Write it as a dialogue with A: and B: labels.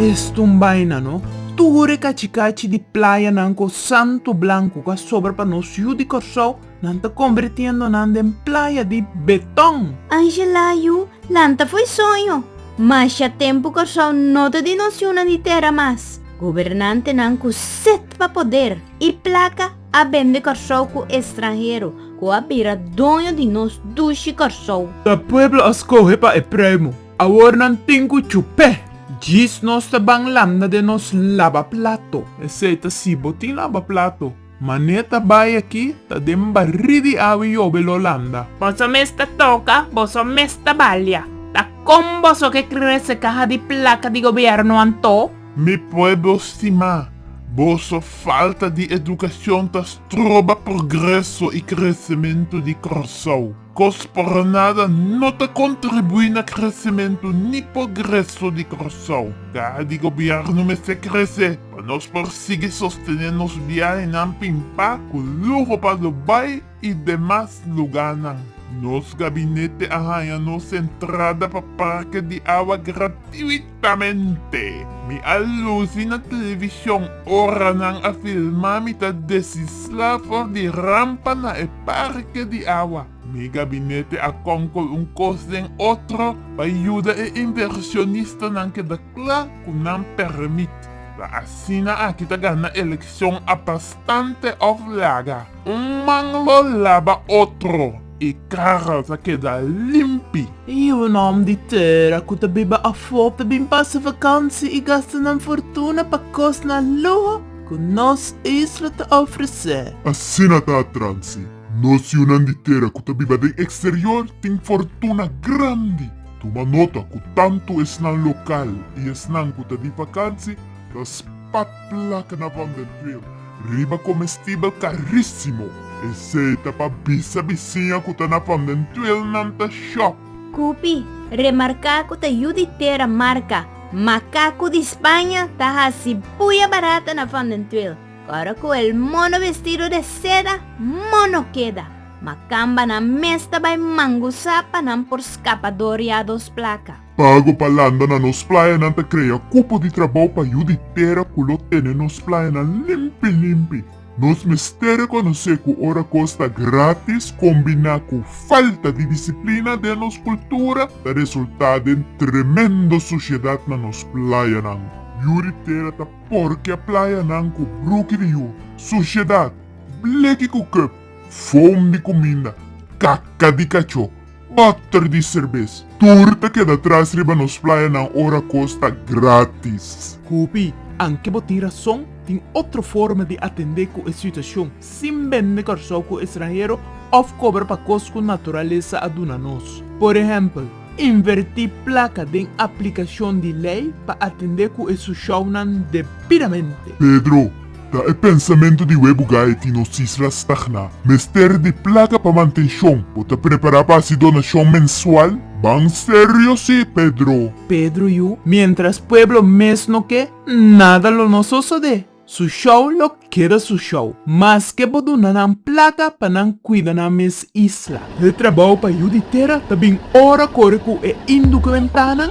A: Es ta un baina no. Tur e kachi-kachi di playanan ku santu blanku ku a sobra pa nos yu di Kòrsou, nan ta kombertiendo nan den playa di beton. Angela, Yu lanta fo'i soño. Masha tempu Kòrsou no ta di nos yunan di tera mas. Gobernantenan ku set pa poder i plaka. A bende Kòrsou ku estranhero. Ku a bira doño di nos dushi Kòrsou. Ta pueblo a skohe pa e premo. Awor nan tin ku chup'é. Djis nos ta ban landa den nos labaplato. Esei ta si bo tin labaplato. Mané ta bai aki ta den barí di awe yobe lo landa. Boso mes ta toka, boso mes ta balia. Ta kon boso ke krese kaha di plaka di gobièrnu antó? Mi pueblo stimá, boso falta di educacion ta stroba progreso y crecemento di Corsow. Cos por nada no ta contribui na crecemento ni pogreso di Corsow. Caha di gobierno mester crece pa nos por sigui sostené nos biahenan pin pa cu luho pa lo bai, i demas lugánan. Nos gabinete a haña nos entrada pa parke di awa gratuitamente. Mi a lusi na televishon ora nan a filmá mi ta desislá for di rampa na e parke di awa. Mi gabinete a kònkol un kos den otro pa yuda e invershonistanan keda. Pla cu nan permit. La asina aki ta gana eleccion a bastante of laga un man lo laba otro y cara ta keda limpi. Y un om di tera cu ta biba afo ta bin pasa vakantie y gasta nan fortuna pa cos na luho cu nos isla ta ofrece. Asina ta atransi. Nos yunan di tera cu ta biba den exterior tin fortuna grandi. Tuma nota ku tantu esnan lokal i esnan ku ta di vakansi ta spat plak na Van den Tweer riba komestibel karísimo. Esei ta pa bisa bisiña ku ta na Van den Tweer nan ta shòk. Kupi, remarká ku ta yu di tera marka makaku di Spaña ta hasi buya barata na Van den Tweer, kòrda ku el mono vestido de seda mono keda. Makambanan mes ta bai mangusa pa nan por skapa doriá dos plaka. Pago pa landa na nos playanan ta krea kupo di trabou pa yu di tera ku lo tene nos playanan limpi limpi. Nos mester rekonosé ku ora kos ta grátis kombiná ku falta di disiplina den nos kultura ta resultá den tremendo sushedat na nos playanan. Yu di tera ta porkia playanan ku bruki di yu, sushedat, bleki ku kup, Fom di kuminda, kaka di kachó, bòter di serbes, tur ta keda tras riba nos playanan ora kos ta grátis. Hopi, anke bo tin rason, tin otro forma di atendé ku e situashon sin bende Kòrsou ku estranhero òf kobra pa kos ku naturalesa a duna nos. Por ehèmpel. Invertí plaka den aplikashon di lei pa atendé ku e su shownan debidamente. Pedro, Ta e pensamentu di Webo Gaiety nos isla stagná. Mester di plaka pa mantenshon. Bo ta prepará pa hasi donashon mensual? Ban serio sí, Pedro! Pedro, Yu, miéntras pueblo mes no ke, nada lo no sosodé. Su show lo keda su show, maske bo duna nan plaka pa nan kuida nan mes isla. E trabou pa yu di tera ta bin ora kore ku e indukumentanan.